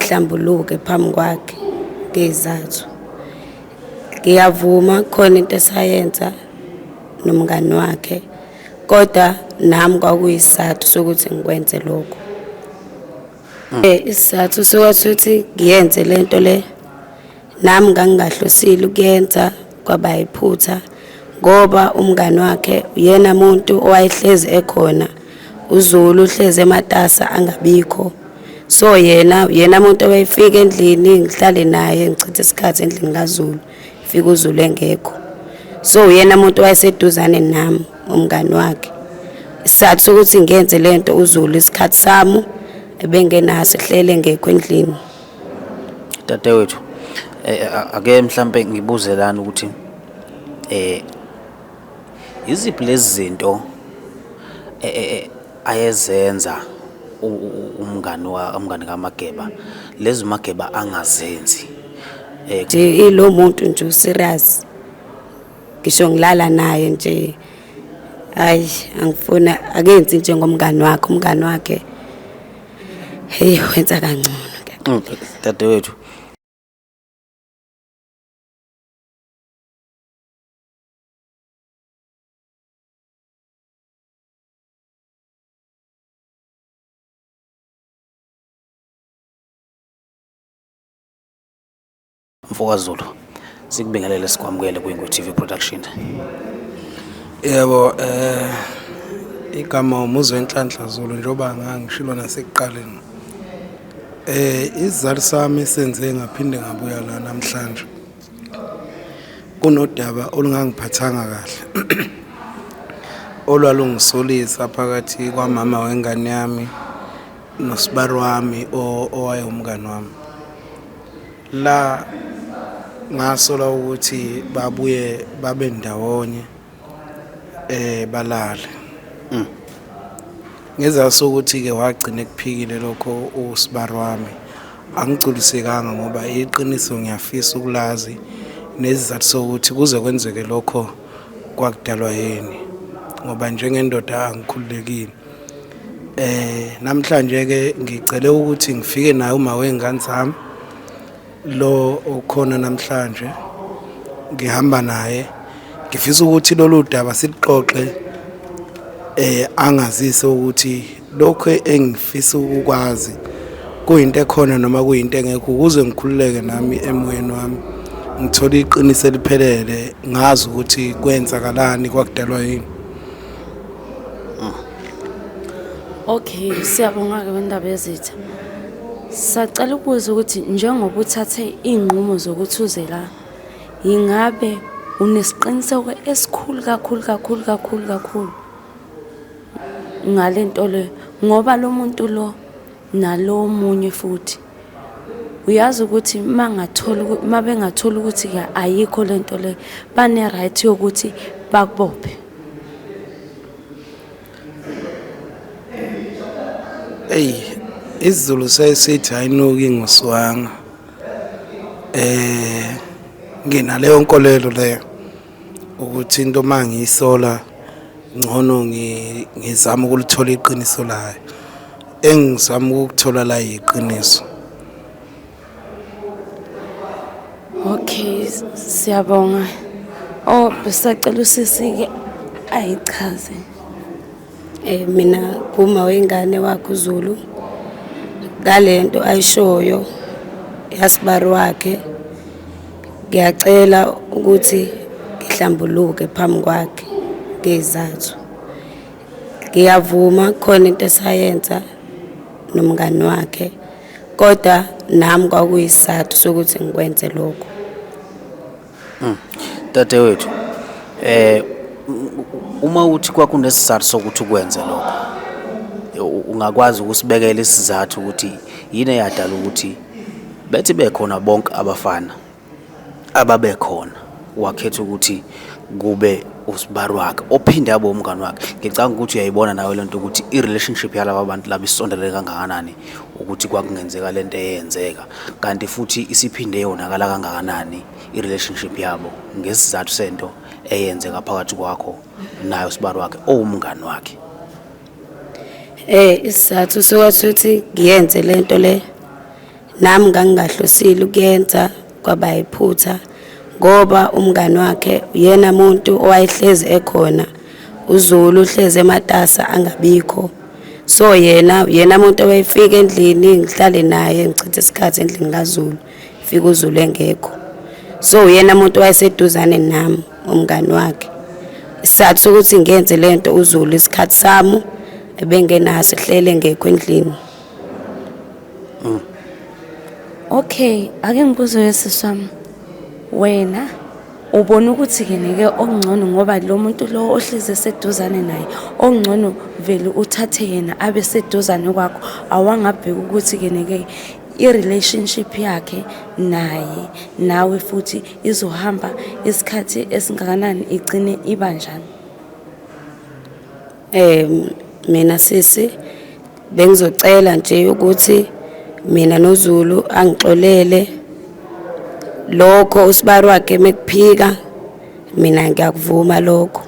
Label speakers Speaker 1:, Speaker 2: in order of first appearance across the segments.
Speaker 1: ngihlambuluke phambi kwakhe ngeyizathu ngiyavuma khona into esayenza nomngani wakhe kodwa nami kwakuyisizathu sokuthi ngikwenze lokho um isizathu sokuthi ngiyenze le nto le Nami ngangingahlosile ukuyenza kwaba yiphutha ngoba umngani wakhe uyena muntu owayehlezi ekhona uZulu uhlezi ematasa angabikho so yena yena muntu owayefika endlini ngihlale naye ngichithe isikhathi endlini kaZulu fika uZulu engekho so uyena muntu wayeseduzane nami umngani wakhe isizathu sokuthi ngenze lento uZulu isikhathi sami ebengenaso ehlele ngekho endlini
Speaker 2: Dadewethu eh, eh, ake mhlampe ngibuze lana ukuthi eh iziphi lezi zinto eh, ayezenza umngani wa umngani kaMageba lezi Mageba angazenzi eh
Speaker 1: ilo muntu nje serious ngisho ngilala naye nje hayi angifuna akenzi nje ngomngani wakhe umngani wakhe Hey wenza kangcono. Mm, dadewethu.
Speaker 2: Mfokazulu sikubingelele sikwamukele kwiNgu TV Production. Yebo
Speaker 3: eh igama umuzwe enhlanhla Zulu njengoba ngangishilo nasekuqaleni. Eh izizali sami senze ngaphinde ngabuya la namhlanje. Kunodaba olungangiphathanga kahle. Olwalungisolisa phakathi kwamama wengane yami nosibari wami owayewumngani wami. la ngasola ukuthi babuye babe ndawonye eh balale mm. ngezasa ukuthi ke wagcina ekuphikile lokho usibar wami angigculisekanga ngoba iqiniso ngiyafisa ukulazi nezizathu sokuthi kuze kwenzeke lokho kwakudalwa yini ngoba njengendoda angikhululekile Eh namhlanje ke ngicele ukuthi ngifike naye uma wengane zami lo okhona namhlanje ngihamba naye ngifisa ukuthi lolu daba silixoxe eh angazise ukuthi lokho engifisa ukwazi kuyinto ekhona noma kuyinto engekho ukuze ngikhululeke nami emoyeni wami ngithole iqiniso eliphelele ngazi ukuthi kwenzakalani kwakudalwa yini
Speaker 4: Okay, siyabonga-ke wendaba yezitha. Sacela ukubuza ukuthi njengoba uthathe iy'nqumo zokuthi uze la, yingabe unesiqiniseko esikhulu kakhulu kakhulu kakhulu kakhulu ngale nto le? Ngoba lo muntu lo. nalo omunye futhi uyazi ukuthi uma ngathola uma bengathola ukuthi ke ayikho le nto le bane-right yokuthi bakubophe
Speaker 3: eyi isizulu sesithi hayinuki ngoswanga um nginaleyo nkolelo leyo ukuthi into uma ngiyisola ngcono ngizama ukulithola iqiniso layo engizama ukuthola la yiqiniso
Speaker 4: Okay siyabonga oh besacela usisi ke ayichaze
Speaker 1: Eh mina kuma wengane wakhe uZulu ngalento ayishoyo yasibari wakhe ngiyacela ukuthi ngihlambuluke phambi kwakhe ngezathu ngiyavuma khona into esayenza nomngani wakhe kodwa nami kwakuyisizathu sokuthi ngikwenze lokho Hmm.
Speaker 2: Dadewethu eh uma uthi kwakunesizathu sokuthi ukwenze lokho ungakwazi ukusibekela isizathu ukuthi yini eyadala ukuthi bethi bekhona bonke abafana ababekhona wakhetha ukuthi kube usibari wakhe ophinde abe umngani wakhe ngicanga ukuthi uyayibona nawe lento ukuthi i-relationship yalaba bantu laba isondelele kangakanani ukuthi kwakungenzeka le nto eyenzeka kanti futhi isiphinde yonakala kangakanani i-relationship yabo ngesizathu sento eyenzeka phakathi kwakho nayo sibari wakhe owumngani wakhe
Speaker 1: eh isizathu sokuthi ngiyenze lento le nami ngangingahlosile ukuyenza Kwaba iphutha ngoba umngani wakhe uyena muntu owayehlezi ekhona uZulu uhlezi ematasa angabikho so yena yena muntu owayefika endlini ngihlale naye ngichithe isikhathi endlini kaZulu fika uZulu engekho so uyena muntu wayeseduzane nami umngani wakhe isizathu sokuthi ngenze lento uZulu isikhathi sami ebengenaso ehlele ngekho endlini
Speaker 4: mm. okay ake ngibuze wesiswami wena ubona ukuthi ke nike okungcono ngoba lo muntu lo ohlezi eseduzane naye okungcono vele uthathe yena abe seduzane kwakho awangabheka ukuthi ke nike i-relationship yakhe naye nawe futhi izohamba isikhathi esingakanani igcine iba njani
Speaker 1: Um mina sisi bengizocela nje ukuthi mina noZulu angixolele lokho usibari wakhe mekuphika mina ngiyakuvuma lokho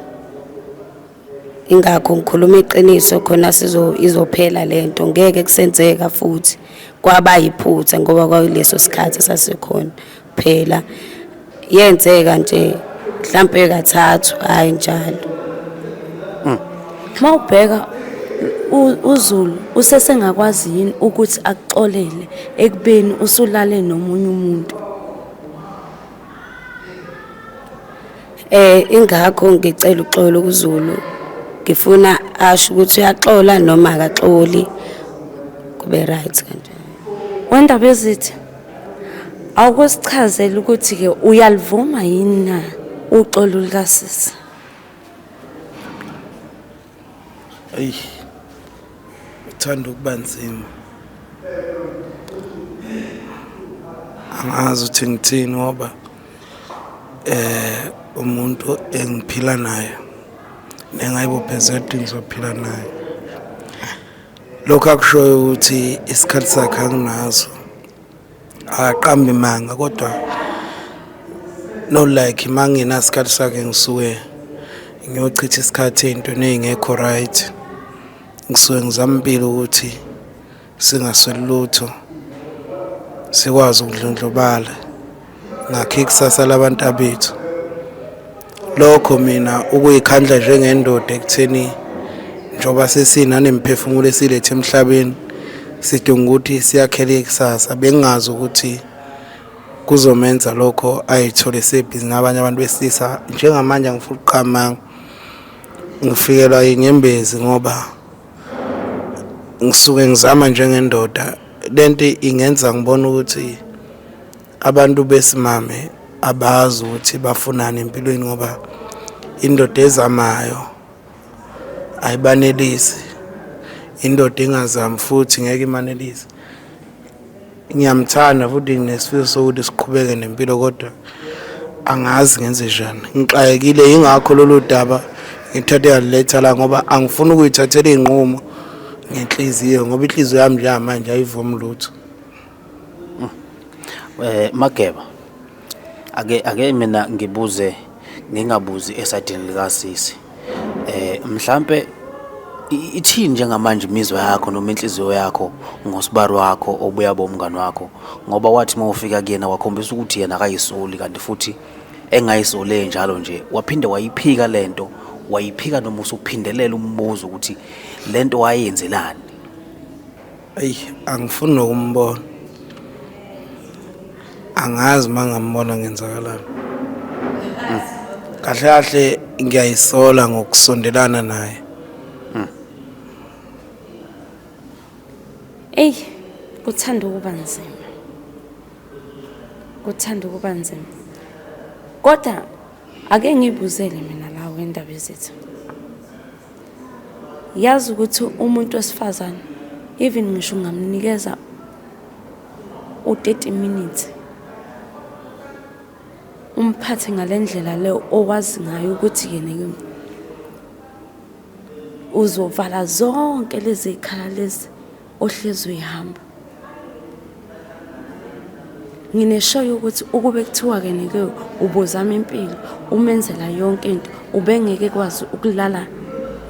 Speaker 1: ingakho ngikhuluma iqiniso khona sizo izophela lento ngeke kusenzeka futhi kwaba yiphutha ngoba kwakuleso sikhathi sasikhona phela yenzeka nje mhlampe kathathu hayi njalo hmm. uma
Speaker 4: ubheka uZulu usesengakwazi yini ukuthi akuxolele ekubeni usulale nomunye umuntu
Speaker 1: eh ingakho ngicela uxolo kuZulu ngifuna asho ukuthi uyaxola noma akaxoli kube right kanje wendaba
Speaker 4: ezithi Awukusichazela ukuthi-ke uyalivuma yini na uxolo lukasisi?
Speaker 3: Eyi, uthanda ukuba nzima. Angazi ukuthi ngithini ngoba eh umuntu engiphila naye nengayibophezela ukuthi ngizophila naye lokho akushoyo ukuthi isikhathi sakhe anginazo akaqambi manga kodwa no like mangenasikhathi sakhe ngisuke ngiyochitha isikhathi ey'ntweni ey'ngekho right ngisuke ngizama impilo ukuthi singasweli lutho sikwazi ukudlondlobala ngakhe ikusasa labantabethu lokho mina ukuyikhandla njengendoda ekutheni njengoba sesinanemphefumulo esilethe emhlabeni sidinga ukuthi siyakhele ikusasa bengazi ukuthi kuzomenza lokho ayithole sebhizi nabanye abantu besilisa njengamanje angifuna ukuqamanga ngifikelwa inyembezi ngoba ngisuke ngizama njengendoda lento ingenza ngibone ukuthi Abantu besimame abazi ukuthi bafunani empilweni ngoba indoda ezamayo ayibanelisi indoda engazami futhi ngeke imanelise ngiyamthanda futhi nesifiso sokuthi siqhubeke nempilo kodwa angazi ngenze njani ngixakekile yingakho lolu daba ngithathe yaliletha la ngoba angifuni ukuyithathela iy'nqumo ngenhliziyo ngoba inhliziyo yami njamanje ayivumi lutho
Speaker 2: Mm. Eh Mageba. Ake ake mina ngibuze ngingabuzi esadini lika sisi. Eh mhlambe ithini njengamanje imizwa yakho noma inhliziyo yakho ngosibari wakho obuya bomngani wakho ngoba wathi mawufika kuyena wakhombisa ukuthi yena akayisoli kanti futhi engayisole njalo nje waphinde wayiphika lento wayiphika noma usuphindelela umbuzo ukuthi lento wayenzelani
Speaker 3: Eyi angifuni nokumbona. Angazi uma ngambona ngenzakalani. Hmm. Kahle kahle ngiyayisola ngokusondelana naye.
Speaker 4: Hmm. Ey, kuthanda ukuba nzima. Kuthanda ukuba nzima. Kodwa Ake ngibuzele mina la wendaba ezitha. Yazi ukuthi umuntu wesifazane even ngisho ungamnikeza u-30 minutes umphathe ngalendlela le owazi ngayo ukuthi yena kimi uzovala zonke lezi khala lezi ohlezi uyihamba ngineshoyo yokuthi ukube kuthiwa ke nike ubuzama impilo umenzela yonke into ubengeke kwazi ukulala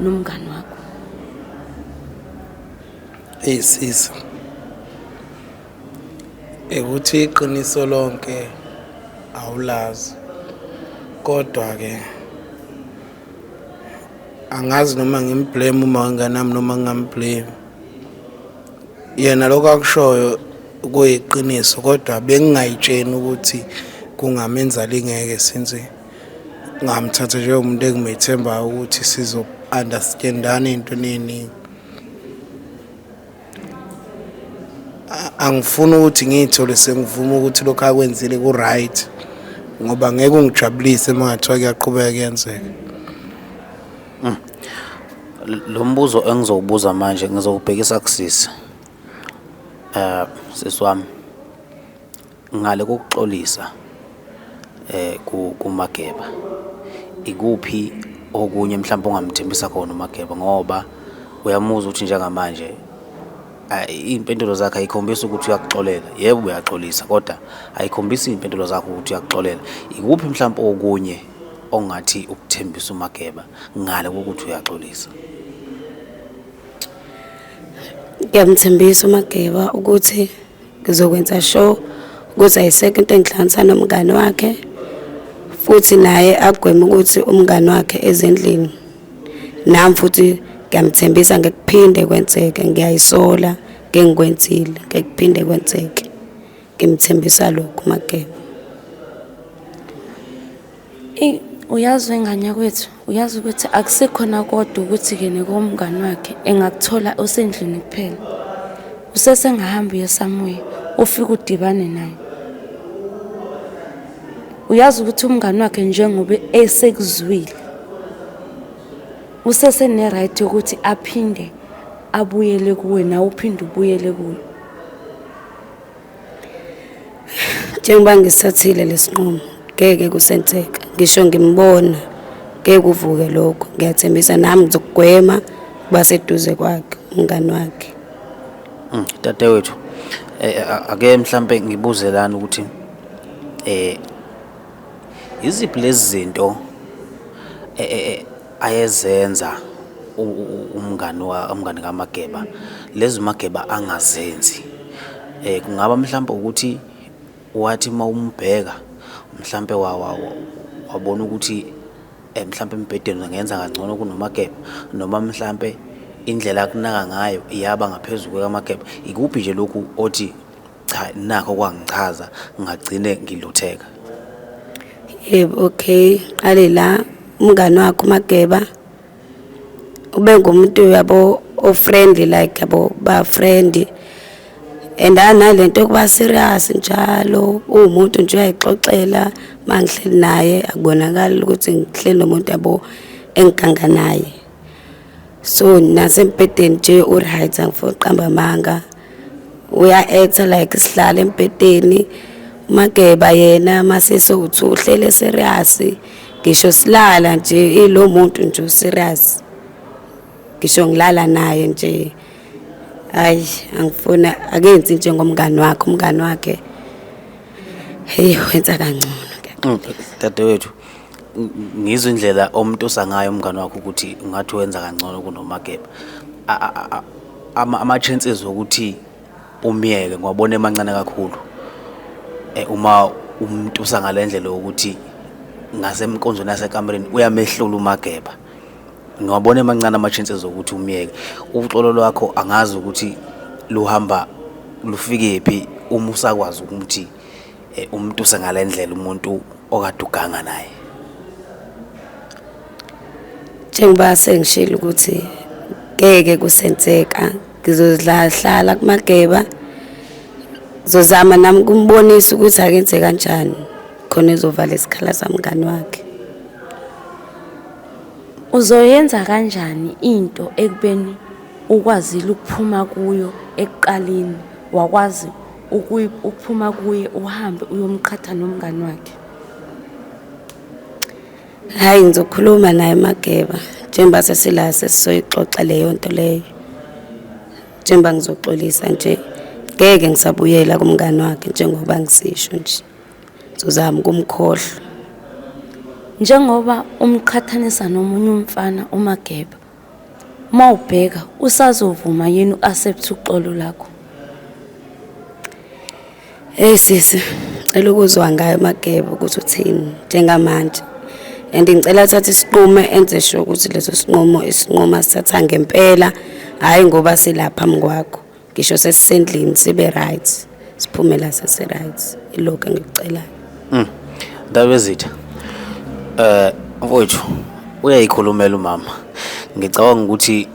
Speaker 4: nomngani wakho
Speaker 3: eyisisa ekuthi iqiniso lonke awulazi kodwa ke angazi noma ngimblame uma wenganami noma ngingamblame yena lokho akushoyo kuyiqiniso kodwa bengingayitsheni ukuthi kungamenza lingeke since ngamthatha njengomuntu engimethembayo ukuthi sizo-understandana ey'ntweni ey'ningi angifuni ukuthi ngiyithole sengivume ukuthi lokho akwenzile ku-right ngoba ngeke ungijabulise uma ngathiwa kuyaqhubeka kuyenzeka
Speaker 2: mm. lo mbuzo engizowubuza manje ngizowubhekisa kusisi um sisi wami Ngale kokuxolisa eh kuMageba ikuphi okunye mhlawumbe ongamthembisa khona uMageba ngoba uyamuzwa ukuthi njengamanje iy'mpendulo zakhe ayikhombisi ukuthi uyakuxolela yebo uyaxolisa kodwa ayikhombisi iy'mpendulo zakhe ukuthi uyakuxolela ikuphi mhlawumbe okunye ongathi ukuthembisa uMageba ngale kokuthi uyaxolisa
Speaker 1: ngiyamthembisa uMageba ukuthi ngizokwenza sure ukuthi ayisekho into engihlanganisa nomngane wakhe futhi naye agweme ukuthi umngane wakhe ezindlini nami futhi ngiyamthembisa ngekuphinde kwenzeke ngiyayisola ngengikwenzile ngekuphinde kwenzeke ngimthembisa lokhu mageba
Speaker 4: Eyi uyazi wengane yakwethu uyazi ukuthi akusekhona kodwa ukuthi kene komngani wakhe engakuthola osendlini kuphela usesengahamba uye samuye ufike udibane naye uyazi ukuthi umngani wakhe njengoba esekuzwile usesene-right yokuthi aphinde abuyele kuwe nawe uphinde ubuyele kuyo
Speaker 1: njengoba ngisathile lesinqumo ngeke kusenzeka ngisho ngimbona ngeke kuvuke lokho ngiyathembisa nami ngizokugwema kuba seduze kwakhe umngani wakhe mm,
Speaker 2: dadewethu eh, eh, ake mhlambe ngibuze lana ukuthi eh iziphi lezi zinto eh, eh ayezenza umngani umngani kaMageba lezi uMageba angazenzi eh, kungaba mhlawumbe ukuthi wathi uma umbheka mhlawumbe wabona ukuthi eh, mhlawumbe embhedeni ngenza kangcono kunoMageba noma mhlawumbe indlela akunaka ngayo iyaba ngaphezulu kwekaMageba ikuphi nje lokhu othi Cha nakho kwangichaza ngagcine ngilutheka.
Speaker 1: Yebo okay qale la umngane wakho uMageba ube ngumuntu yabo o friendly like yabo ba friendly and analento yokuba serious njalo uwumuntu nje uyayixoxela mangihleli naye akubonakala ukuthi ngihleli nomuntu yabo engiganga naye so nasembhedeni nje uright angifuni uqamba amanga uya-acta like sihlala embhedeni umageba yena masese uthi uhlele serious ngisho silala nje ilo muntu nje userious ngisho ngilala naye nje hayi angifuna akenzi njengomngani wakhe umngani wakhe heyi wenza kangcono dadewethu
Speaker 2: ngizwa indlela omtusa ngayo umngane wakho ukuthi ungathi wenza kangcono kunoMageba ama-chances okuthi umyeke ngiwabona emancane kakhulu eh, uma umtusa ngale ndlela yokuthi ngasemkonzweni yasekamereni uyamehlula uMageba ngiwabona emancane ama-chances okuthi umyeke uxolo lwakho angazi ukuthi luhamba lufikephi uma usakwazi ukuthi eh, umtuse ngalendlela umuntu okade uganga naye
Speaker 1: njengoba sengishilo ukuthi ngeke kusenzeka ngizozidlahlala kumageba ngizozama nami kumbonisa ukuthi akenze kanjani khona ezovala isikhala samngani wakhe
Speaker 4: uzoyenza kanjani into ekubeni ukwazile ukuphuma kuyo ekuqaleni wakwazi ukuphuma kuye uhambe uyomqhatha nomngani wakhe
Speaker 1: hayi ngizokhuluma naye mageba njengoba sesila sesizoyixoxa leyo nto leyo njengoba ngizoxolisa nje ngeke ngisabuyela kumngani wakhe njengoba ngisisho nje ngizozama ukumkhohlwa
Speaker 4: njengoba umqhathanisa nomunye umfana umageba Uma ubheka usazovuma yini u-accept uxolo lakho?
Speaker 1: Hey sisi, cela ukuzwa ngayo Mageba ukuthi uthini njengamanje. And ngicela athathe isinqumo enze sure ukuthi leso sinqumo isinqumo asithatha ngempela, hayi ngoba silapha mkwakho. ngisho sesisendlini sibe right siphumela sesi right ilokho engikucelayo mm. ndabezitha
Speaker 2: eh mfowethu uyayikhulumela umama ngicabanga ukuthi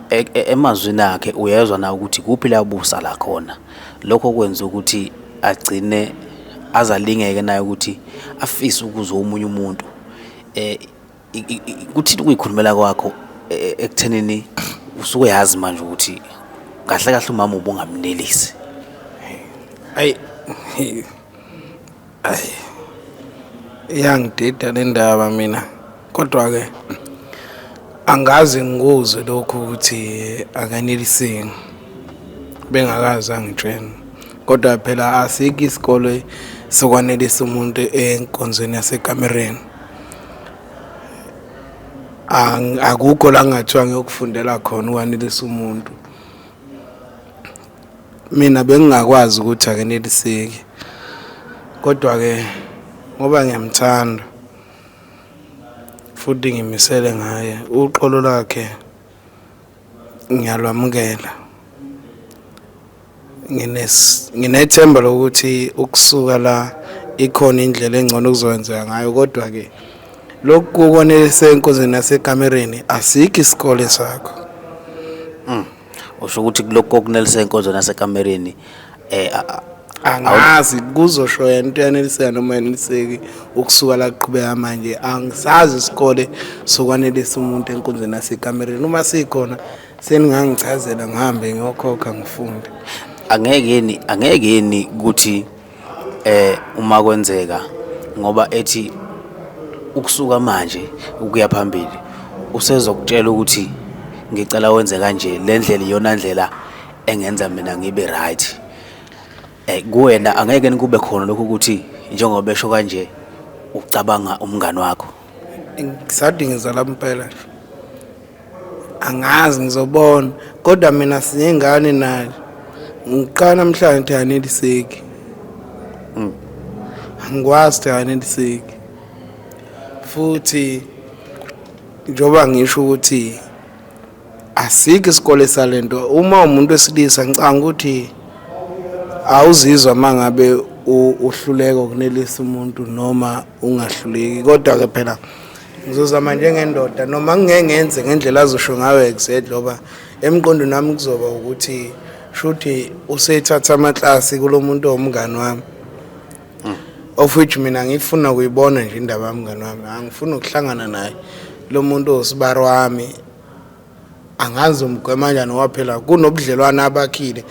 Speaker 2: e, e, emazwini akhe uyezwa na ukuthi kuphi la busa la khona lokho kwenza ukuthi agcine azalingeke naye ukuthi afise ukuzwa umunye umuntu eh kuthini ukuyikhulumela kwakho e, e, ekuthenini usuke yazi manje ukuthi kahle kahle umama ubungamnelisi
Speaker 3: ayi ayi iyangidida le ndaba mina kodwa-ke angazi ngikuzwe lokhu ukuthi akaneliseki bengakazi angitshena kodwa phela asikho isikole sokwanelisa umuntu enkonzweni yasekamereni akukho la ngathiwa ngiyokufundela khona ukwanelisa umuntu mina bengingakwazi ukuthi akeneliseki kodwa-ke ngoba ngiyamthanda futhi ngimisele ngaye uqolo lakhe ngiyalwamukela nginethemba lokuthi ukusuka la ikhona indlela engcono okuzokwenzeka ngayo kodwa-ke lokhu kukonelisa enkonzweni yasekamereni asikho isikole sakho hmm.
Speaker 2: usho ukuthi kulokhu kokunelisa enkonzweni yasekamereni eh angazi
Speaker 3: kuzosho yena into yaneliseka noma yaneliseki ukusuka la kuqhubeka manje angisazi isikole sokwanelisa umuntu enkundleni yasekamereni uma sikhona seningangichazela ngihambe ngiyokhokha ngifunde angeke yini
Speaker 2: angeke yini ukuthi eh uma kwenzeka ngoba ethi ukusuka manje ukuya phambili usezokutshela ukuthi ngicela wenze kanje le ndlela iyona ndlela engenza mina ngibe right eh kuwena angeke nikube khona lokho ukuthi njengoba esho kanje ucabanga umngani wakho ngisadingiza
Speaker 3: la mpela nje angazi ngizobona kodwa mina sinengane naye ngiqala namhlanje ukuthi aneliseki mm. angikwazi ukuthi aneliseki futhi njengoba ngisho ukuthi asikho isikole salento uma umuntu wesilisa ngicanga ukuthi awuzizwa mangabe uhluleka ukunelisa umuntu noma ungahluleki kodwa ke phela ngizozama njengendoda noma ngeke ngenze ngendlela azosho ngayo exactly ngoba emqondweni wami kuzoba ukuthi shuthi usethatha amaklasi kulomuntu omngani wami mm. of which mina ngifuna ukuyibona nje indaba yami ngane wami angifuni ukuhlangana naye lo muntu usibari wami angazi umgwema njani waphela kunobudlelwane abakhile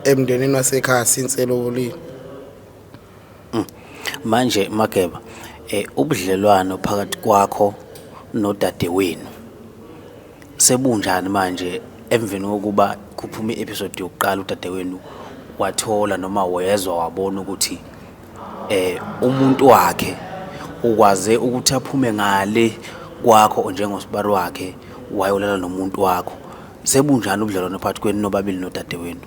Speaker 3: emndenini wasekhaya since elobolile mm.
Speaker 2: manje mageba eh ubudlelwano phakathi kwakho nodadewenu Sebunjani manje emveni kokuba kuphume i-episode yokuqala udadewenu wathola noma wezwa wabona ukuthi eh umuntu wakhe ukwaze ukuthi aphume ngale kwakho njengosibari wakhe wayolala nomuntu wakho sebunjani ubudlelwano phakathi kwenu nobabili nodadewenu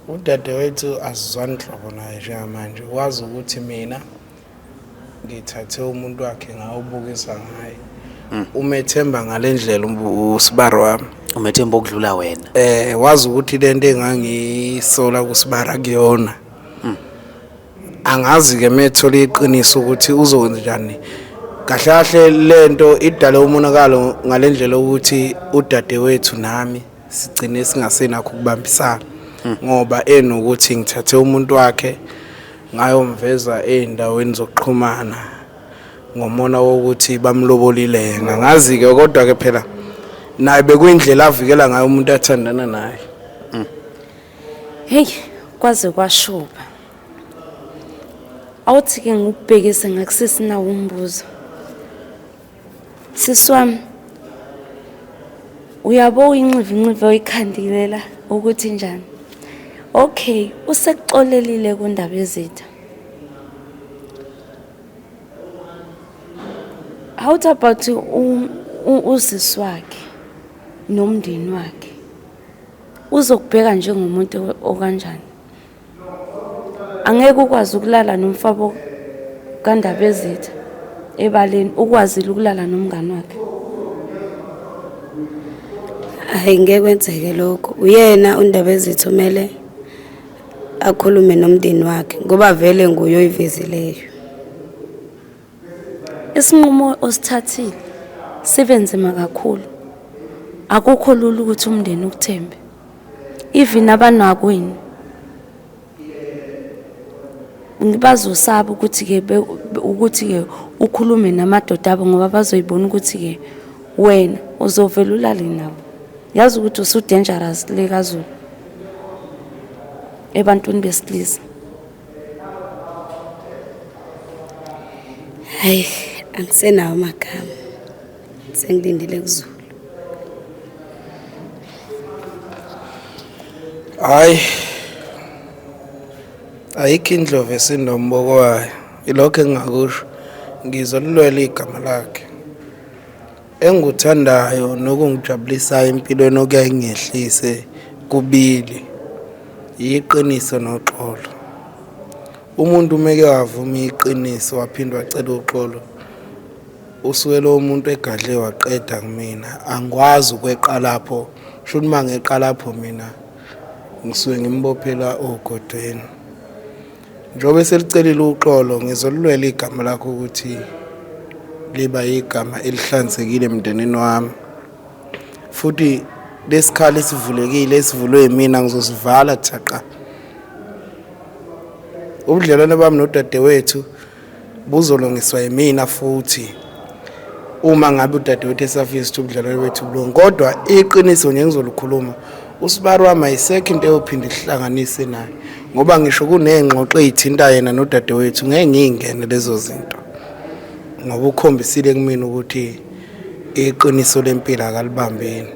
Speaker 2: udadewethu
Speaker 3: asizwani nhlobo naye njengamanje wazi ukuthi mina ngithathe umuntu wakhe ngawubukisa ngaye hmm. umethemba ngale ndlela usibari wami umethemba okudlula
Speaker 2: wena eh wazi ukuthi
Speaker 3: lento engangisola kusibara kuyona hmm. angazi ke methole iqiniso ukuthi uzokwenza njani kahle kahle lento idale umonakalo ngalendlela ukuthi udadewethu nami sigcine singasenakho ukubambisana hmm. ngoba enokuthi ngithathe umuntu wakhe ngayomveza ezindaweni zokuxhumana ngomona wokuthi bamlobolile yena ngazi ke kodwa ke phela naye bekuyindlela avikela ngayo umuntu athandana naye hmm.
Speaker 4: hey kwaze kwashuba awuthi ke ngikubhekise ngakusesinawo umbuzo Sisi wami uyabo uyinxivinxivi oyikhandilela ukuthi njani okay usekuxolelile kundaba yezitha how about usisi wakhe nomndeni wakhe uzokubheka njengomuntu okanjani angeke ukwazi ukulala nomfabo kandaba ezitha ebaleni ukwazile ukulala nomngane wakhe
Speaker 1: hayi ngeke kwenzeke lokho uyena undaba ezitha umele akhulume nomndeni wakhe ngoba vele nguye oyivezileyo
Speaker 4: Isinqumo osithathile sibe nzima kakhulu. Akukho lula ukuthi umndeni ukuthembe. Even abanakwenu bazosaba ukuthi-ke ukuthi-ke ukhulume namadoda abo ngoba bazoyibona ukuthi-ke wena uzovele ulale nabo yazi ukuthi usudangerous le kazulu ebantwini besilisa
Speaker 1: hayi angisenawo amagama sengilindele kuzulu
Speaker 3: hayi ayikho indlovu esinomboko wayo ilokho engingakusho ngizolulwela igama lakhe Engikuthandayo nokungijabulisayo empilweni okuyaye ngehlise kubili yiqiniso noxolo. Umuntu umeke wavuma iqiniso waphinde wacela uxolo usuke lowo muntu egadle waqeda kumina angikwazi ukweqa lapho sho ukuthi uma ngeqa lapho mina ngisuke ngimbophela ogodweni Njengoba eselicelile uxolo ngizolulwela igama lakho ukuthi liba igama elihlanzekile emndenini wami futhi lesikhala esivulekile esivulwe yimina ngizosivala thaqa ubudlelwane bami nodadewethu buzolungiswa yimina futhi uma ngabe udadewethu esafisa ukuthi ubudlelwane bethu bulunge kodwa iqiniso nje ngizolukhuluma usibari wami ayisekho into eyophinde ihlanganise naye ngoba ngisho kuney'ngxoxo ey'thinta yena nodadewethu ngeke ngiy'ngene lezo zinto ngoba ukhombisile kumina ukuthi iqiniso lempilo akalibambeni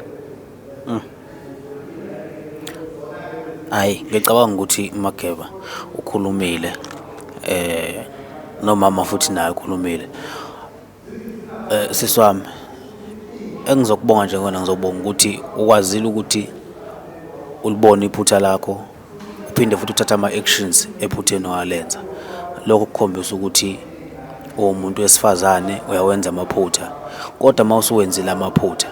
Speaker 2: Mm. Hayi ngicabanga ukuthi uMageba ukhulumile eh nomama futhi naye ukhulumile. Eh sisi wami engizokubonga nje kuwena ngizobonga ukuthi ukwazile ukuthi ulibone iphutha lakho. uphinde futhi uthathe ama-actions ephutheni walenza lokho kukhombisa ukuthi uwumuntu wesifazane uyawenza amaphutha kodwa uma usuwenzile amaphutha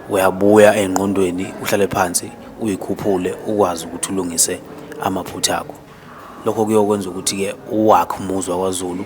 Speaker 2: uyabuya engqondweni uhlale phansi uyikhuphule ukwazi ukuthi ulungise amaphutha akho lokho kuyokwenza ukuthi-ke uwakhe umuzwa kwaZulu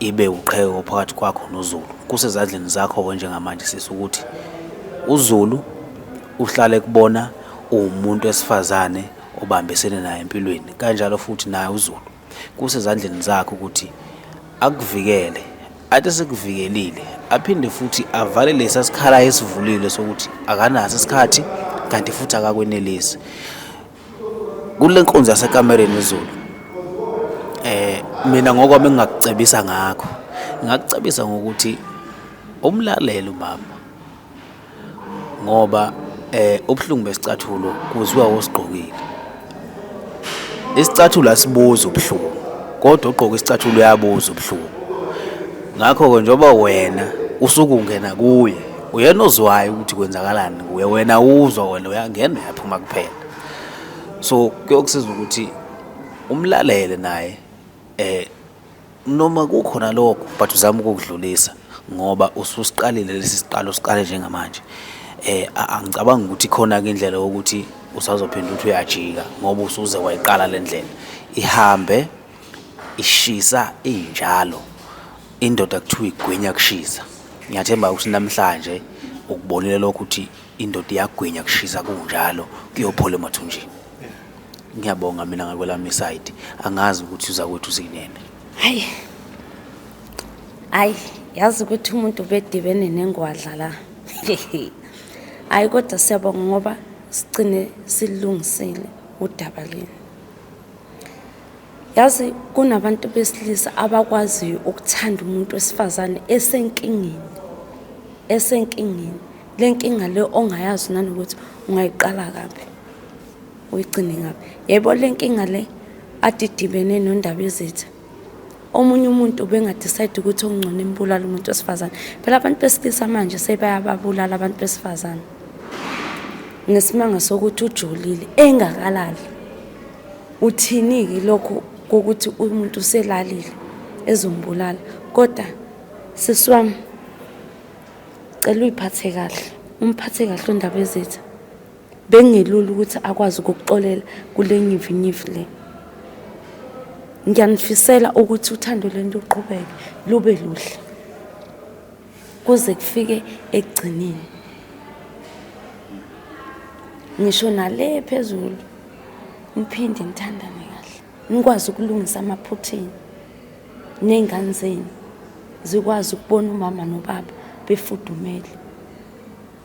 Speaker 2: ibe uqheko phakathi kwakho noZulu. Kusezandleni zakho-ke njengamanje sisi ukuthi uZulu uhlale kubona uwumuntu wesifazane obambisene naye empilweni kanjalo futhi naye uZulu kusezandleni zakho ukuthi akuvikele athi sekuvikelile aphinde futhi avale lesa sikhala esivulile sokuthi akanaso isikhathi kanti futhi akakwenelisi Kule nkonzo yasekamereni izulu eh mina ngokwami engingakucebisa ngakho ngakucebisa ngokuthi umlalele umama ngoba eh ubuhlungu besicathulo kuzwa osigqokile isicathulo asibuza ubuhlungu kodwa ugqoka isicathulo uyabuza ubuhlungu ngakho-ke njengoba wena usuke ungena kuye uyena ozwayo ukuthi kwenzakalani kuye wena uzwa wena uyangena uyaphuma kuphela so kuyokusiza ukuthi umlalele naye eh noma kukhona lokho but uzama ukukudlulisa ngoba ususiqalile lesi siqalo siqale njengamanje eh angicabangi ukuthi khona ke indlela yokuthi usazophinda ukuthi uyajika ngoba usuze wayiqala le ndlela ihambe ishisa injalo Indoda kuthiwa igwinya kushisa. Ngiyathemba ukuthi namhlanje ukubonile lokho ukuthi indoda iyagwinya kushisa kunjalo kuyophola emathunjini. Ngiyabonga mina ngakwelami side. Angazi ukuthi uzakwethu uzinene. Hayi.
Speaker 4: Hayi, yazi ukuthi umuntu bedibene nengwadla la. Hayi kodwa siyabonga ngoba sigcine silungisile udaba leni. Yazi kunabantu besilisa abakwaziyo ukuthanda umuntu wesifazane esenkingeni esenkingeni le nkinga le ongayazi nanokuthi ungayiqala kabi uyigcine ngabi yebo le nkinga le adidibene nondaba ezitha omunye umuntu bengadecide ukuthi okungcono imbulala umuntu wesifazane phela abantu besilisa manje sebayababulala abantu besifazane ngesimanga sokuthi ujolile engakalali Uthini-ke lokhu kokuthi umuntu uselalile ezombulala kodwa sisi wami cela uyiphathe kahle umphathe kahle undaba ezitha bengelula ukuthi akwazi ukukuxolela kule nyivinyivi le ngiyanifisela ukuthi uthando lento uqhubeke lube luhle kuze kufike ekugcineni ngisho nale phezulu niphinde nithandane kahle nikwazi ukulungisa amaphuthini ney'ngane zenu zikwazi ukubona umama nobaba befudumele